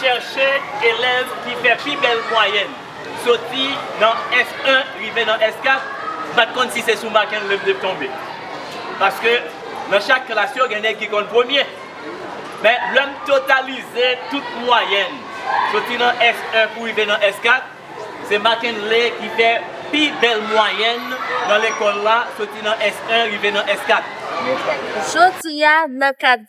Chèche elèv ki fè pi bèl mwayèn, soti nan S1 rive nan S4, m pa t konn si se sou Marc-Henry m te tonbe. Paske nan chak klas yo gen nèg ki konn premye. Men lè m totalize tout mwayèn, soti nan S1 pou rive nan S4, se Marc-Henry ki fè pi bèl mwayèn nan lekòl la, soti nan S1 rive nan S4. Jodi a, nan kad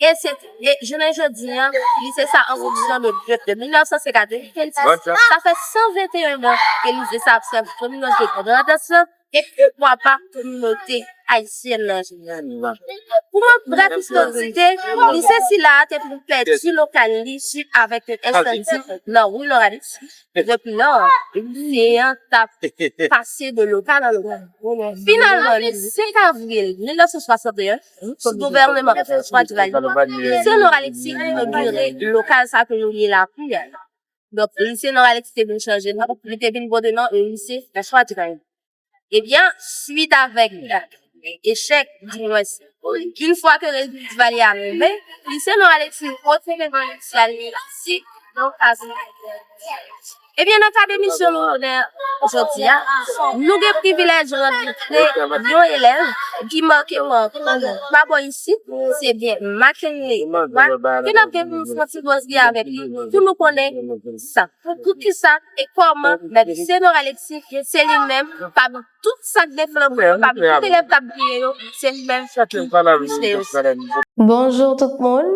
E se, e jounen jodi an, li se sa an relijyon nou dwe de 1905 a 2026, sa fè 121 an ke li se sa ap sèvi kominote Grandans lan e poukwa pa kominote ayisyèn lan jeneralman. Pou mank brèf istosite, lise sila a te vin pèdi lokal li suit avèk yon ensandi nan Rue Laurentius, depi lò, lise an t ap pase de lokal an lokal. Finalman, le 5 avril 1961, Tout gouvèneman ki sou swa dra li Lucien Laurent Alexis inogire lokal sa ke nou rele lakou a donk Lucien Laurent Alexis te vin chanje non li te vin pote non lycée François Durain ebyen swit avèk echèk di mwens yn fwa ke rezilta Duvalier a tonbe Lucien Laurent Alexis retire non initial li si donk a Ebyen nan kad emisyon nou onè jodi a, nou gen privilèj rankontre yon elèv ki make ou anpil pa bò isit, se byen Mackenley Edouard ke n ap gen pou nou fè yon ti kozri avèk li pou nou konnen sa, poukisa e kòman mèt Senor Alexis se li menm pami Tout sak gen flanm yo papi tout elèv kap briye yo se li menm ki plis de yo si. Bonjour tout moun!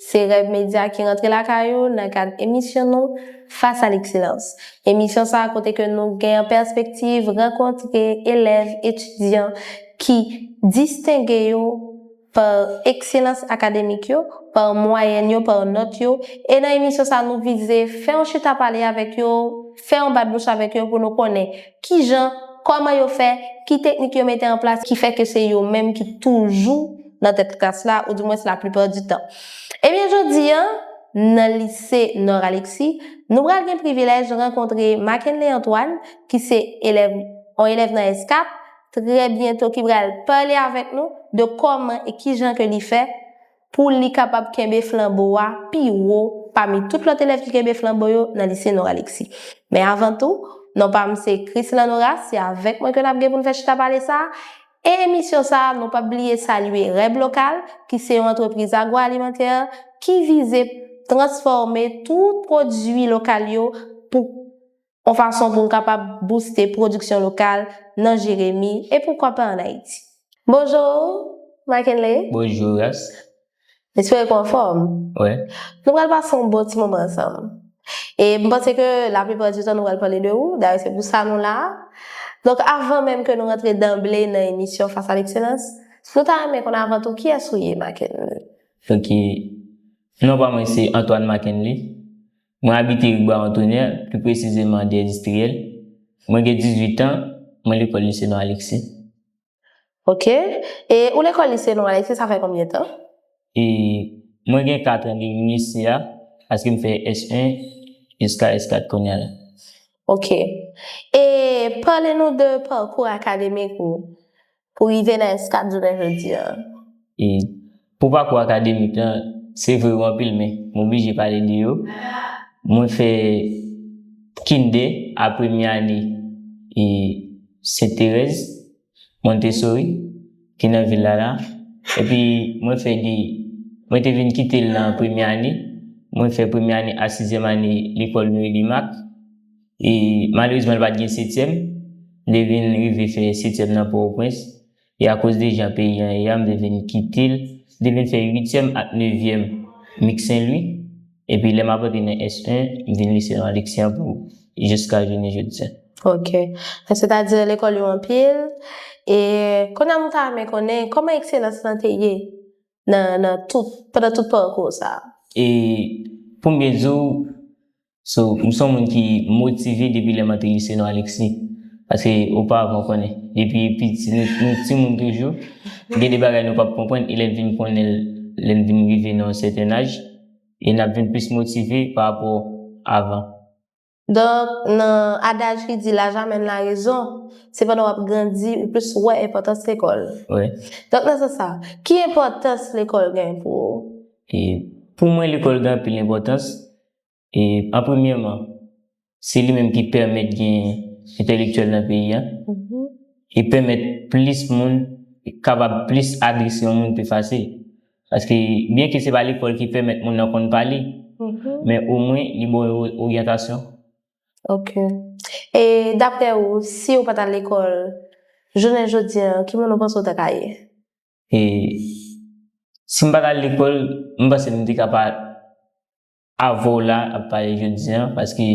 Se Rèv Media ki rantre lakay ou nan kad emisyon nou Face à l'excellence. Emisyon sa a kote ke nou gen an pèspektiv rankontre elèv, etidyan ki distenge yo, par ekselans akademik yo, par mwayèn yo, par nòt yo, e nan emisyon sa nou vize fè yon chita pale avèk yo, fè yon bat bouch avèk yo pou nou konnen kijan, kòman yo fè, ki teknik yo mete an plas ki fè ke se yo menm ki toujou nan tèt klas la ou di mwens la plupart du tan. Ebyen jodi an nan lise Nord Alexis nou pral gen privilèj rankontre Mackenley Antoine ki se elèv yon elèv nan ESCAP trè byento ki pral pale avèk nou de kòman e kijan ke li fè pou li kapab kenbe flanbo a pi wo pami tout lòt elèv ki kenbe flanbo yo nan Lise Noralexis. Men avan tou, non pa m se Christland Horace, se avèk mwen ke n ap gen pou n fè chita pale sa a. E emisyon sa a, nou p ap bliye salye Reb Local, ki se yon antrepriz agwoalimantè ki vize transfòme tout pwodui lokal yo pou. On fason pou n kapab bouste pwodiksyon lokal nan Jeremi e poukwa pa an Ayiti. Bonjour Mackenley. Bonjour Ras. M espere ke w anfòm. Wi. Nou pral pase yon bon ti moman ansanm. E m panse ke laplipra di tan nou pral pale de ou, dayè se pou sa nou la a. Donk avan menm ke nou rantre danble nan emisyon Face à l'excellence, nou ta renmen konn avan tou kiyès ou ye Mackenley? Ok. Non pa mwen se Antoine Mackenley. Mwen abite ri Bwa Antonè, pli presizeman Dè Distriyèl. Mwen gen 18 an, mwen lekòl Lise Don Aleksi. Ok. E ou lekòl Lise Don Aleksi sa fè konbyen tan? E mwen gen 4 an depi m lise a, paske m fè S1 jiska S4 kounya la. Ok. E pale nou de pakou akademik ou. pou rive nan eskad jounen jodi an. E pou pakou akademik lan, se vre yo anpil men, m oblije pale de yo. Mwen fè Kinde a premye ane e Sent Terèz, Montessori, ki nan vil la la. Epi mwen fè de, mwen te vin kite l nan premye ane, mwen fè premye ane a sizyèm ane lekòl Louis Lumac. E malerezman li pa t gen setyèm. M te vin rive fè setyèm nan Pòtoprens. E akoz de jan peyi an ye a, m te vin kite l. M te vin fè uityèm ak nevyèm Mik Senlwi. Epi lè m ap antre nan S1, m vin lise nan Aleksyan pou jiska jounen jodi a. Ok. Sètadi lekòl yo anpil. E kounye a m ta renmen konnen kòman ekselans lan te ye nan, nan tout, pandan tout pakou w sa a? E pou m byen di w, So m son moun ki motive depi lè mante lise non Alexis paske ou pa avan konnen depi piti nou ti moun toujou gen de bagay nou pap konprann e lèn vin konnen l lèn vin rive nan yon sèten aj e nap vin plis motive pa rapò avan. Donk nan adaj ki di laj amèn la rezon se pandan wap grandi ou plis wè enpòtans lekòl Wi. donk nan sans sa ki enpòtans lekòl gen pou ou? E pou mwen lekòl gen anpil enpòtans E an premyèman, se li menm ki pèmèt gen entèlektyèl nan peyi a, e pèmèt plis moun kapab plis adrese yon moun pi fasil. Paske byen ke se pa lekòl ki pèmèt moun nan konn pale, men omwen li ba w yon oryantasyon. Ok. E daprè ou, si ou pa t al lekòl, jounen jodi an, ki moun ou panse ou ta ka ye? E si m pa t al lekòl, m panse m te ka pa Avo w la ap pale jodi an paske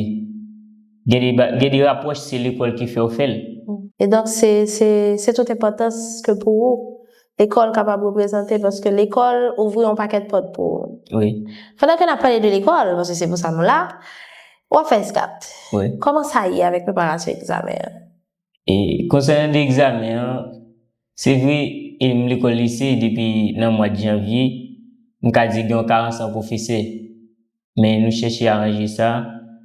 gen de rapwòch se lekòl ki fè w fè l. E donk se se tout enpòtans ke pou ou lekòl kapab reprezante paske lekòl ouvri yon pakèt pòt pou ou. Wi. Pandan ke n ap pale de lekòl paske se pou sa nou la, w ap fè eskat. Wi. Kòman sa ye avèk preparasyon egzamen an? E konsènan de egzamen an, se vre e m lekòl lise depi nan mwad janvye, m ka di gen yon karans an pwofesè. Men nou chèche aranje sa,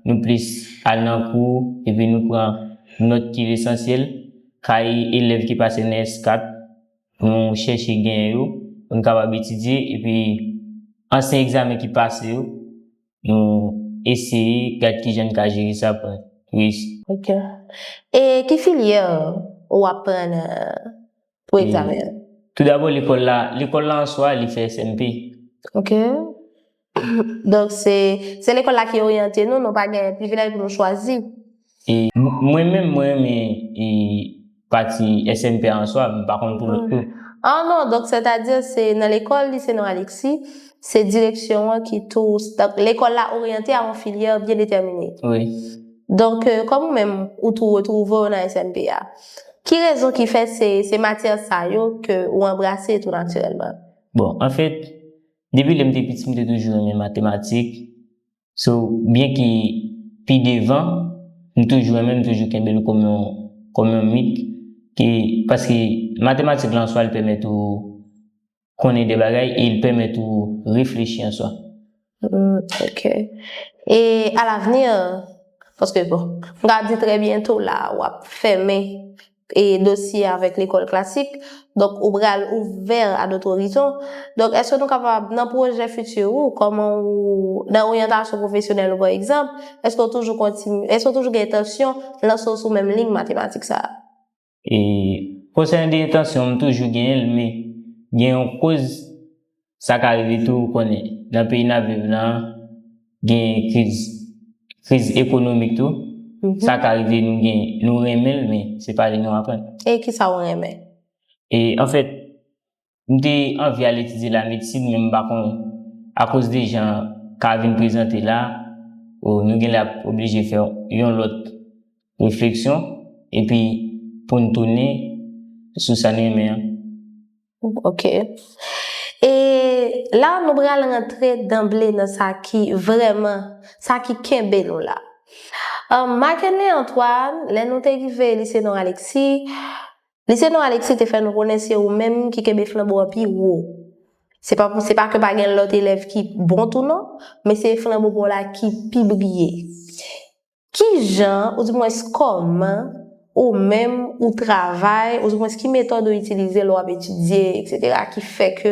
nou plis al nan kou epi nou pran nòt ki lesansyèl, kaye elèv ki pase nan S4 nou chèche genyen yo pou n kapab etidye epi ansyen egzamen ki pase yo Nou eseye gad kijan n ka jere sa pou n reyisi. Ok. E ki filyè ou aprann pou egzamen an? Toudabò lekòl la, lekòl la answa li fè SMP. Ok. Donk se lekòl la ki oryante nou, nou pa gen privilèj pou nou chwazi. Mwen menm mwen renmen pati SNP a answa men m pa konn pou lòt yo. Ah non donk sètadi se nan lekòl Lise Non Aleksi se direksyon an ki tou donk lekòl la oryante a yon filyè byen detèmine. Wi. Donk kòm ou menm ou tou retwouve w nan SNP a ki rezon ki fè se se matyè sa yo ke ou anbrase tou natirèlman? Bon anfèt depi lè m te piti m te toujou renmen matematik So byen ki pi devan m toujou renmen m toujou kenbe l kòm yon kòm yon mit ke paske matematik la an swa li pèmèt ou konnen de bagay e li pèmèt ou reflechi an swa. Hum ok e a l'avenir paske bon m ka di trè byento la wap fèmen e dosye avèk lekòl klasik donk ou pral ouvè a dot orizon donk èske nou kapab nan pwojè fiti ou kòman ou nan oryantasyon pwofesyonèl ou pa egzanp èske ou toujou kontinye èske ou toujou gen entansyon lanse w sou menm liy matematik sa a? E konsènan de entansyon m toujou genyen l men gen yon koz Sa ka rive tou ou konnen nan peyi nap viv lan gen kriz kriz ekonomik tou sa ka rive nou gen nou renmenl men se pa li nou aprann. E kisa ou renmen? E anfèt m te anvi al etidye la medsin men m pa konn akoz de jan ka vin prezante la oh nou genlè ap oblije fè yon lòt refleksyon epi poun tounen sou sa n renmen an. Ok. E la nou pral rantre danble nan sa ki vrèman, sa ki kenbe nou la. Marc-Henry Antoine, lè nou te rive Lycée Nord Alexis, Lycée Nord Alexis te fè nou konnen se ou menm ki kenbe flanbo an pi wo. Se pa pou se pa ke pa gen lòt elèv ki bon tou non, men se flanbo pa w la ki pi briye. Ki jan, oudimwens kòman, ou menm, ou travay, oudimwens ki metòd ou itilize lè w ap etidye, eksetera, ki fè ke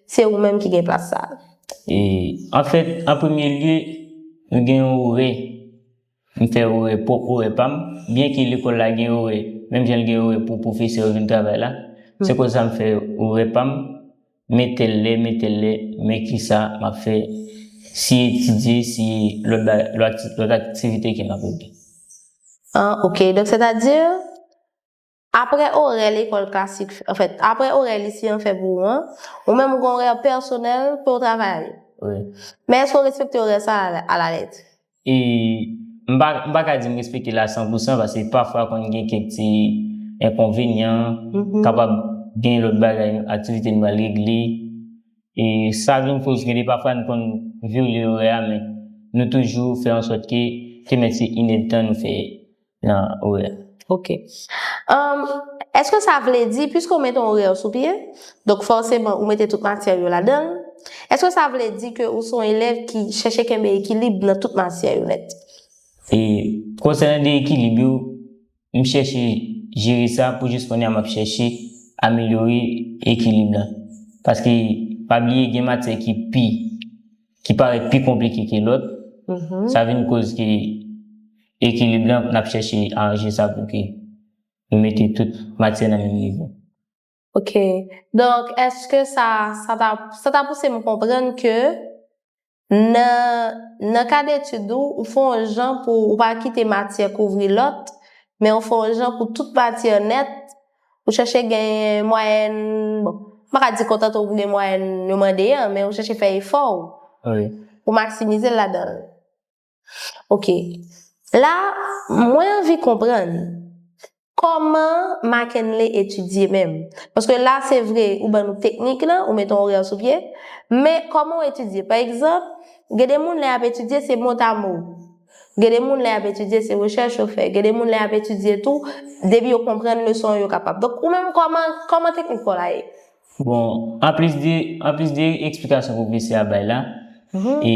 se ou menm ki gen plas sa a? E, anfèt, an premye lye, nou gen yon orè. M fè orè, pwòp orè pa m, byenke lekòl la gen orè, menm jan l gen orè pou pwofesè yo vin travay la, se kòz sa m fè orè pa m. Metelle metelle men kisa map fè si etidye si lòt bagay lòt aktivite ke map regle. An ok donk sètadi aprè orè lekòl klasik anfèt aprè orè lise an fè pou ou an ou menm ou gen orè pèsonèl kew travay ale. Wi. Men èske ou respekte orè sa alalèt? E m pa m pa ka di m respekte l a san pou san pase pafwa konn gen kèk ti enkonvenyan, kapab gen lòt bagay, aktivite nou pral regle e sa vin koz gen de pafwa n konn vyole orè a men nou toujou fè an sòt ke te mèt se inèdtan nou fè Nan orè. Ok. Umm eske sa vle di piske ou mete yon orè sou pye, donk fòseman ou mete tout matyè yo ladan l, eske sa vle di ke ou se yon elèv ki chèche kenbe ekilib nan tout matyè yo nèt? E konsènan de ekilib yo, m chèche jere sa pou jis kounye a m ap chèche amelyore ekilib la. Paske pa bliye gen matyè ki pi. ki parèt pi konplike ke lòt, sa vin koz ke ekilib la n ap chèche aranje sa pou ke nou mete tout matyè nan menm nivo. Ok. Donk èske sa sa ta sa ta pouse m konprann ke nan nan kad etid ou, ou fè yon jan pou ou pa kite matyè kouvri lòt, men ou fè yon jan pou tout matyè nèt Ou chèche gen mwayèn, bon, m pa ka di kontante w pou gen mwayèn yo mande an, men ou chèche fè efò ou pou maksimize l ladan l. Ok. La, mwen anvi konprann, kòman Mackenley etidye menm? Paske la, se vre, ou ban nou teknik lan, ou mete yon orè sou pye, men kòman ou etidye? Pa egzanp, gen de moun lè y ap etidye, se motamo. Gen de moun lè yap etidye se rechèch yo fè, gen de moun lè yap etidye tou depi yo konprann leson an yo kapab. Donk ou menm kòman kòman teknik paw la ye? Bon, anplis de anplis de eksplikasyon pwofesè a bay la, e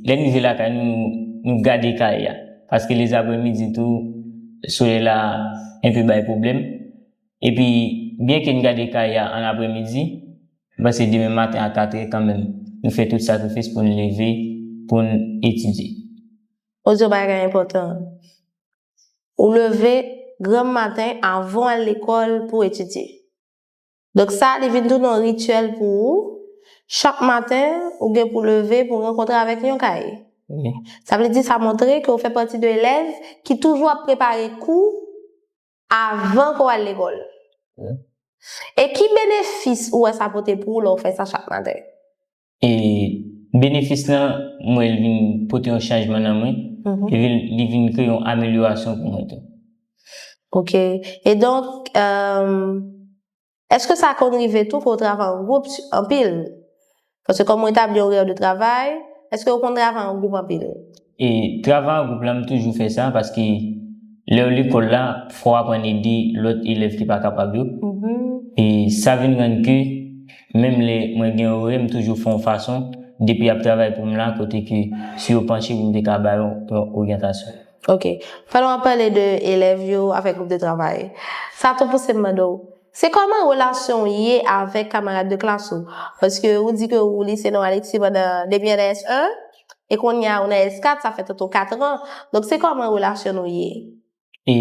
lè n rive lakay nou nou nou gade kaye a. Paske lezapremidi tou solèy la enpe bay pwoblèm. Epi, byenke n gade kay a ann apremidi, m panse demen maten a katrè kanmenm nou fè tout sakrifis pou n leve pou n etidye. O Dyon bagay enpòtan! Ou leve granm maten avan w al lekòl pou w etidye. Donk sa li vin tounen yon rityèl pou ou, chak maten ou gen pou w leve pou w rankontre avèk yon kaye. Sa vle di sa montre ke w fè pati de elèv ki toujou ap prepare kou Avan ke w al lekòl. E ki benefis ou wè sa pote pou ou lè w fè sa chak maten? E benefis lan, m wè li vin pote yon chanjman nan mwen, epi li vin kreye yon amelyorasyon pou mwen tou. Ok. E donk, Eske sa konn rive tou ke w travay an gwoup anpil? Paske kòm ou etabli yon rèv de travay, eske ou konn travay an gwoup anpil? E, travay an gwoup la m toujou fè sa paske lè w lekòl la fò w aprann ede lòt elèv ki pa kapab yo. E sa vin rann ke menm lè mwen gen orè m toujou fè yon fason depi y ap travay pou m la kote ke si yo panche pou m te ka ba yo yon oryantasyon. Ok. Pandan wap pale de elèv yo avèk gwoup de travay, sa tou pouse m mande w, se kòman relasyon w ye avèk kamarad de klas ou? Paske ou di ke ou lise non Alexis pandan, depi an nan S1, e kounye a ou nan S4, sa fè toto 4 ran. Donk se kòman relasyon nou ye? E,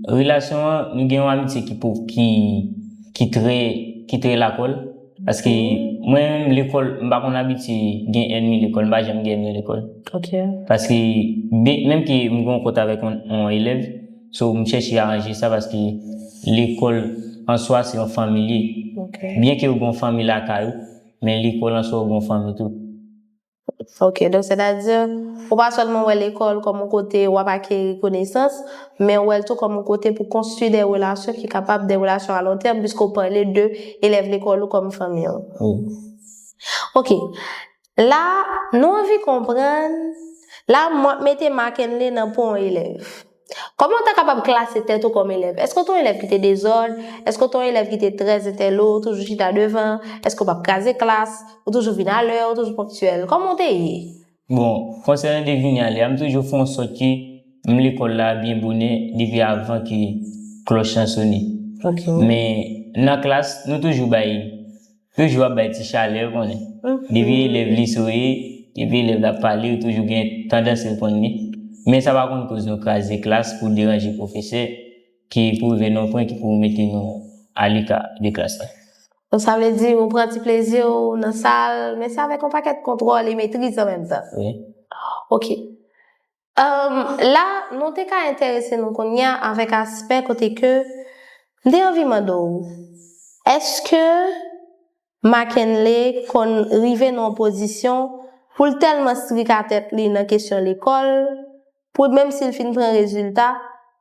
relasyon an, nou gen yon amitye ki, ki trè, ki trè lakòl. Paske mwen menm lekòl m pa konn abitye gen ènmi lekòl, m pa janm gen ènmi lekòl. Ok. Paske byen menm ke m gen yon kont avèk yon elèv, so m chèche aranje sa paske lekòl an swa se yon fanmi li ye. Ok. Byen ke yo gen yon fanmi lakay ou, men lekòl an swa ou gen yon fanmi tou. Ok, donk sètadi, ou pa sèlman wè lekòl kòm yon kote wap akeri konesans, men ou wè l tou kòm yon kote pou konstwi de relasyon ki kapab de relasyon a lon tèm piske ou pale de elèv lekòl ou kòm fanmi w. Ok, la nou anvi konprann, la mwen ap mete Marc-Henley nan po yon elèv. Kòman w ta kapab klase tèt ou kòm elèv? Èske w te yon elèv ki te dezòd? Èske w te yon elèv ki te trè entèlo, ou toujou chita devan? Èske w pa p kraze klas? Ou toujou vin alè? Ou toujou ponktyèl? Kòman w te ye? Bon, konsènan de vini alè a, m toujou fè yon sòt ke m lekòl la byen bonè depi avan ke klòch lan sone. Men, nan klas, nou toujou bay. Toujou ap bay ti chalè ou konnen. Depi elèv li souri, depi elèv la ap pale ou toujou gen tandans reponn li. Men sa pa konn koz nou kraze klas pou deranje pwofesè ki pou rive nan yon pwen ki pou mete nou aleka de klas la. Donk sa vle di ou pran ti plezi w nan sal men se avèk yon pakèt kontwòl e metriz an menm tan. Wi. Ok. Umm la nou te ka enterese nou kounya avèk aspè kote ke m te anvi mande w èske Mackenley konn rive nan yon pozisyon pou l tèlman strik a tèt li nan kesyon lekòl pou l menm si l fin pran rezilta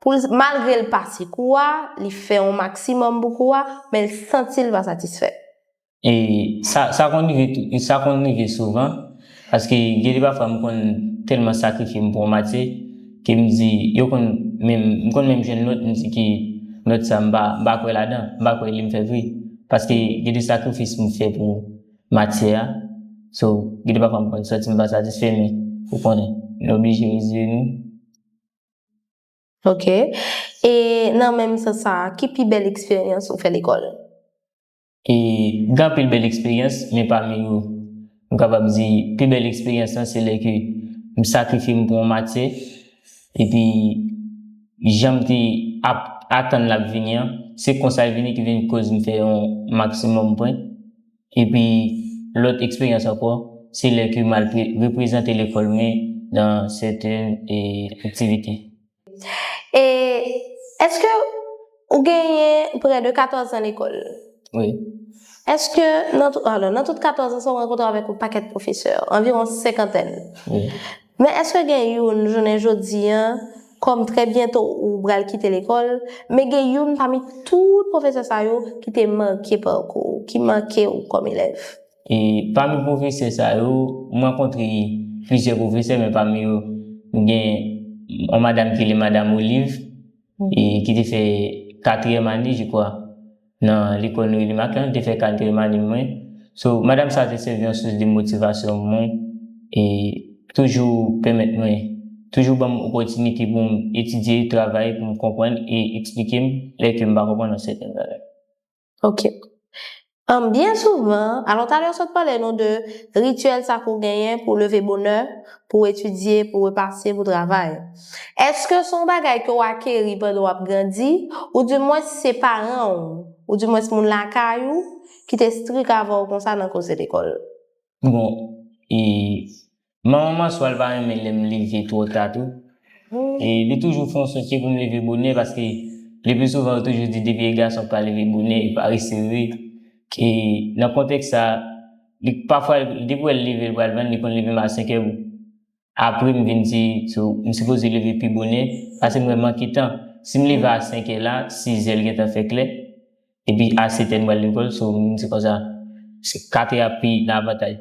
pou l malgre l pase kou a li fè yon maksimòm pou kou a men l santi l pa satisfè. E sa sa konn rive tou, e sa konn rive souvan, paske gen de pafwa m konn tèlman sakrifye m pou yon matyè, ke m di, yo konn menm, m konn menm jwenn nòt, m di ke nòt sa m pa, m pa kwè ladan, m pa kwè li m fè vre, paske gen de sakrifis m fè pou matyè a, so, gen de pafwa m konn santi m pa satisfè men, ou konnen, nou oblije reziye nou. Ok, e nan menm sans sa a, ki pi bèl eksperyans ou fè lekòl? E gen anpil bèl eksperyans, men pami yo, m kapab di pi bèl eksperyans lan se lè ke m sakrifye m pou yon matyè, epi jan m te ap atann l ap vini an, se konsa l vini ki vin koz m fè yon maksimòm pwen. Epi lòt eksperyans ankò, se lè ke m al reprezante lekòl mwen nan sèten aktivite. E eske ou genyen prè de 14 an lekòl? Wi. Eske nan tout, alò, nan tout 14 an sa ou rankontre avèk yon pakèt pwofesè, anviwon senkantèn. Wi. Men eske gen youn jounen jodi an, kòm trè byento ou pral kite lekòl, men gen youn pami tout pwofesè sa yo ki te make parkou ou, ki make ou kòm elèv? E pami pwofesè sa yo, m rankontre plizyè pwofesè men pami yo gen yon madam ki rele madam Olive e ki te fè katriyèm ane je kwa nan lekòl Noeline Marc lan, li te fè katriyèm ane m mwen. So, madam sa te sèvi yon sous de motivasyon pou mwen e toujou pèmèt mwen, toujou ban m opòtinite pou m etidye, travay pou m konprann e eksplike m lè ke m pa konprann yon sèten bagay. Ok. Humm byen souvan, alon talè ou sot pale nou de rituel sa pou genyen pou leve bonè, pou etidye, pou repase, pou travay. Eske son bagay ke ou akeri pandan ou ap grandi, ou di mwens se paran ou, ou di mwens moun lakay ou ki te strik avè ou konsa nan koze lekol? Bon e manman Manswèl pa renmen lèm leve twò ta tou. E li toujou fè yon sòsye poum leve bonè paske le pli souvan yo toujou di depi e gason ki pa leve bonè e parese wi. E nan kontèks sa li pafwa depi wèl leve l pral vann li konn leve m a 5 è. Apre m vin di tou m sipoze leve pi bonè pase m wè manke tan. Si m leve a 5 è la, 6 è l gentan fè klè. Epi a 7 è m pral lekòl so m di konsa 4 è ap pi nan avantaj.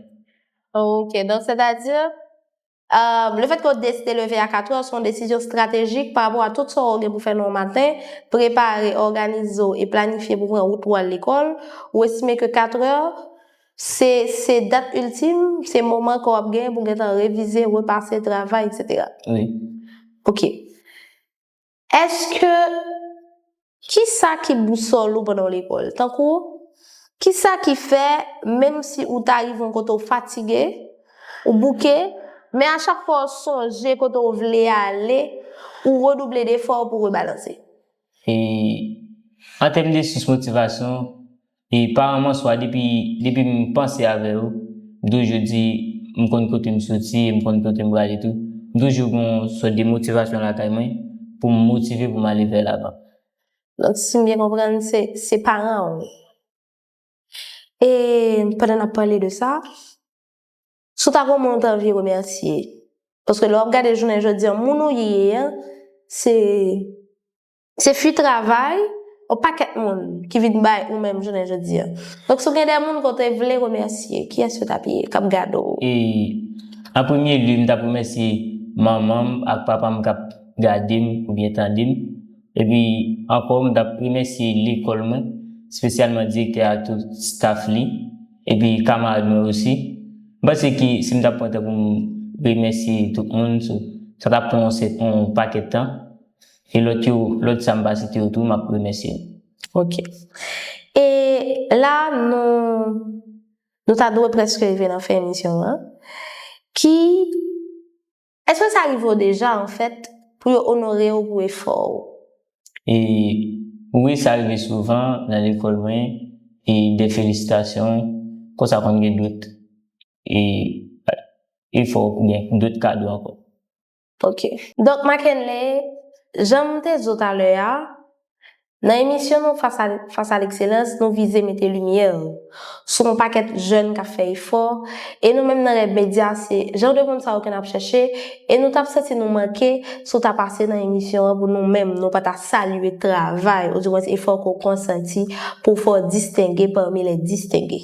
Ok, donk sètadi lefètke w deside leve a 4 è se yon desizyon estratejik parapò a tout sa w gen pou fè nan yon maten, prepare, òganize w e planifye pou w pran wout pou w al lekòl, ou estime ke 4 è Se se dat iltim, se moman ke w ap genyen pou w gentan revize, repase, travay, eksetera. Wi. Ok. Eske, kisa ki bousòl ou pandan w lekòl? Tankou, kisa ki fè menm si ou ta rive yon kote ou fatige, ou bouke, men a chak fwa w sonje kote w vle ale, ou redouble defò pou w rebalanse? E, an tèm de sous motivasyon, E paran m an swa depi depi m panse avè yo, m toujou di m konn kote m soti e m konn kote m prale tou. M toujou gen yon sòt de motivasyon lakay mwen pou m motive pou m ale vè lavan. Donk si m byen konprann se se paran w. E pandan n ap pale de sa, si w ta gen yon moun w ta anvi remèsye, paske lè w ap gade jounen jodi an moun ou ye an se Se fwi travay yon pakèt moun ki vin bay ou menm jounen jodi a. Donk si w gen de moun ke w te vle remèsye, kiyès yo t ap ye k ap gade w? E, an premye lye, m t ap remèsye manman m ak papa m k ap gade m oubyen tande m. Epi ankò m t ap remèsye lekòl mwen, espesyalman direktè a ak tout staf li, epi kamarad mwen osi. M panse ke si m t ap pran tan pou m remèsye tout moun, sa t ap pran yon pakèt tan. E lòt yo, lòt sa m pa site yo tou, m ap remèsye nou. Ok. E la a nou nou ta dwe prèske rive nan fen emisyon an. Ki Èske sa rive w deja anfèt pou yo onore w pou efò w? E Wi sa rive souvan nan lekòl mwen e de felisitasyon kon sa konn gen dot e efò oubyen dot kado ankò. Ok. Doc Mackenley, jan m te di w talè a, nan emisyon nou Fas a Fas a Lekselans, nou vize mete limyè sou yon pakèt jèn k ap fè efò, e nou menm nan Rèv Medya se jan de moun sa yo ke n ap chèche, e nou t ap santi nou manke si w ta pase nan emisyon an pou nou menm nou pa ta salye travay, oudiwens efò ke w konsanti pou w fè w distenge pami lè distenge.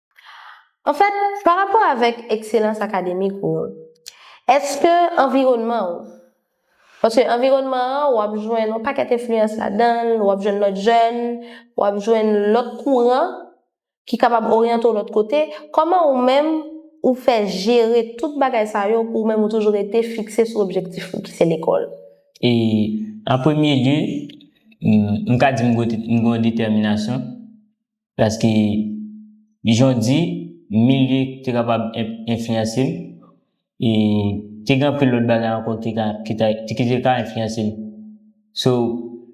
Anfèt, pa rapò avèk ekselans akademik ou, èske anviwònman ou, paske anviwònman an w ap jwenn yon pakèt enfliyans ladan l, w ap jwenn lòt jèn, w ap jwenn lòt kouran ki kapab oryante w lòt kote, kòman ou menm ou fè jere tout bagay sa yo pou ou menm ou toujou rete fikse sou objektif ou ki se lekòl? E, an premye lye, m ka di m gen yon detèminasyon Paske, jan w di, milye te kapab enfliyanse m. E te gen anpil lòt bagay ankò ki te ka enfliyanse m. So,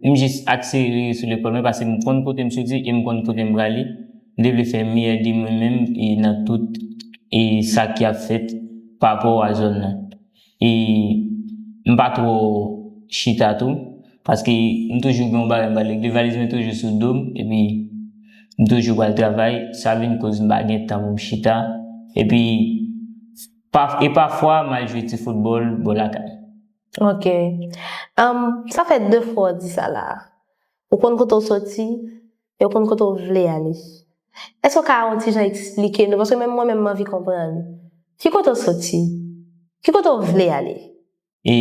m jis akse rete sou lekòl mwen paske m konn kote m soti e m konn kote m prale. M te vle fè meyè de mwen menm nan tout sa ki ap fèt parapò a zòn nan. E m pa twò chita tou. Paske m toujou gen yon bagay m pral regle. Valiz mwen toujou sou do m. Epi m toujou pral travay. Sa vin koz m pa gen tan pou m chita. Epi e pafwa m al jwe ti foutbòl bò lakay. Ok. Sa fè 2 fwa w di sa la a. Ou konn kote w soti? e w konn kote w vle ale. Èske w ka yon ti jan esplike nou, paske menm mwen menm m anvi konprann, ki kote w soti? Ki kote w vle ale? E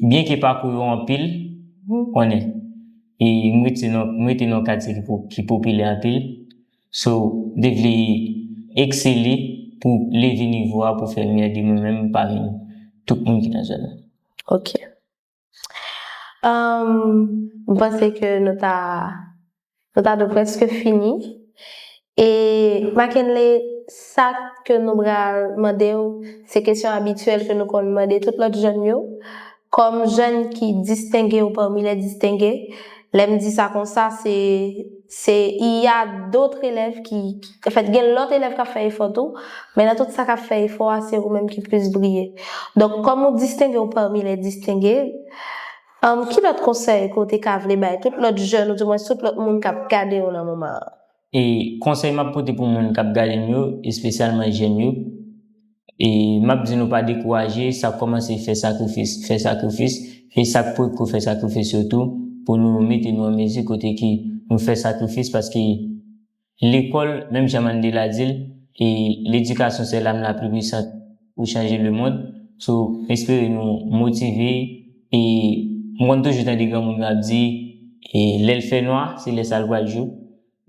byenke pakou yo anpil, konnen, e m rete nan, m rete nan yon katye ki po, ki popilè anpil, so, m te vle eksele pou leve nivo a pou fè miyò de mwen menm pami tout moun ki nan zòn nan. Ok. Mwen panse ke nou ta nou ta dwe preske fini e Mackenley sa ke nou pral mande w se kesyon abityèl ke nou konn mande tout lòt jèn yo kòm jèn ki distenge ou pami lè distenge Lè m di sa konsa, se se il y a d'autres élèves qui anfèt gen lòt elèv k ap fè efò tou, men nan tout sa k ap fè efò a, se ou menm ki plis briye. Donk, kòm ou distenge w parmi les distingues, ki lòt konsèy ke w te ka vle bay tout lòt jèn ou dimwens tout lòt moun k ap gade w nan moman an? E konsèy map pote pou moun kap gadem yo espesyalman jèn yo e map di nou pa dekouraje sa kòmanse fè sakrifis fè sakrifis e sak potko fè sakrifis yo tou pou nou mete nou an mezi kote ke nou fè sakrifis paske lekòl menm jan Mandela dil e ledikasyon sè lam la pli pwisant. pou chanje le mond so m espere nou motive e m konn toujou tande granmoun yo ap di lè l fè nwa se lè sa l pral jou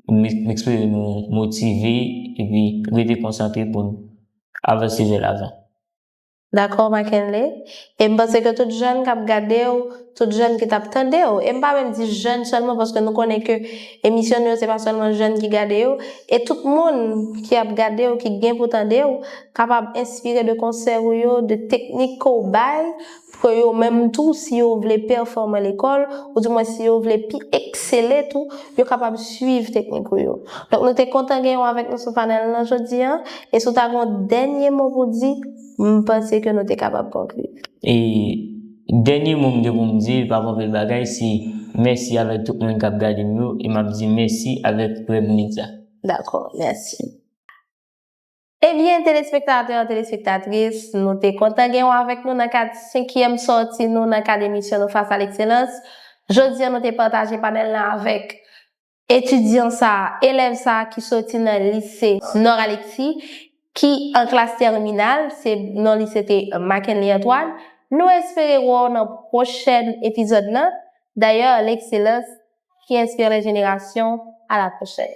m espere nou motive epi rete konsantre pou n avanse vè lavan. Dakò Mackenley, E m panse ke tout jèn kap gade w, tout jèn ki tap tande w, e m pa menm di jèn sèlman paske nou konnen ke emisyon nou yo se pa sèlman jèn ki gade yo, e tout moun ki ap gade w, ki gen pou tande w, kapab enspire de konsèy ou yo, de teknik ke w bay, pou ke yo menm tou, si yo vle pèfòme lekòl, ou di mwen si yo vle pi eksele tou, yo kapab swiv teknik ou yo. Donk nou te kontan genyen w avèk nou sou panèl lan jodi an, e si w ta gen yon dènye mo pou di, M panse ke nou te kapab konkli. E dènye mo m gen pou m di, l pa gen anpil bagay, se mèsi avèk tout moun k ap gade m yo, e m ap di mèsi avèk Reb Media. Dakò, mèsi. Ebyen, telespektatè, telespektatris, nou te kontan gen ou avèk nou nan kad senkyèm sòti nou nan kad emisyon nou Fas a Lekselans. Jodi an nou te pataje panèl lan avèk Etidyan sa a, elèv sa a ki soti nan lise Nord Alexis, ki an klas tèminal, se non li se te Mackenly Antoine, nou espere wè w nan pwochèn epizòd lan, dayè Lekselans ki enspire lè jenerasyon, a la pwochèn.